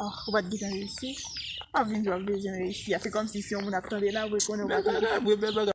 Ah, ou pat gitan reyisi. Pa vin di wap bezwen reyisi a. Se kòm si si yon moun ap tande la, vre konnen wap reyisi. Bèl bagay vre, bèl bagay.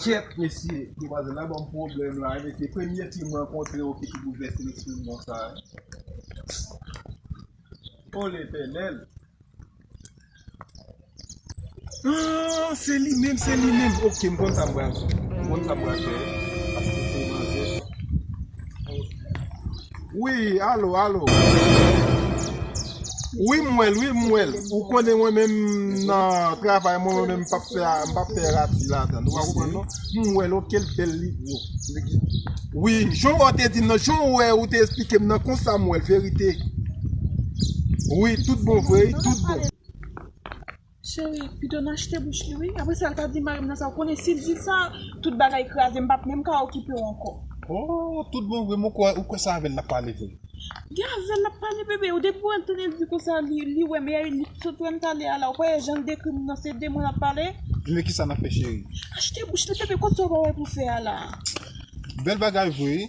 Kyèt mesye demwazèl la banm pwoblèm la mesye premye fim mwen kontre yo ki tou boulvèse lesprim konsa oh letènèl aah se li menm se li menm ok mkonn sa mpral fè mkonn sa mpral fè paske se manzè. Wi alo alo Wi m wèl wi m wèl ou konnen mwen menm nan travay mwen mwen menm m pap fè m pap fè rati ladann ou pa konprann non m wèl ok l bèl li gwo wi jan w te di m nan jan w wè ou te esplike m nan konsa m wèl verite wi tout bon vre wi tout bon. Cheri, pito n achte bouch li wi. Apresa l ka di mari m nan sa. Ou konnen si l di sa, tout bagay kraze. M pap menm ka okipe w ankò. Oh, tout bon vre? Mwen kwè ou kwè sa avè l n ap pale vre. Gen avè l n ap pale bebe. Depi w antre l di konsa li wè m e li sot wè m tale a la. Ou pa wè jan l dekri m nan se de mwen l ap pale. Ebyen kisa n ap fè cheri? Achte bouch li bebe. Kot sa ou pa wè pou w fè a la? Bèl bagay vre wi.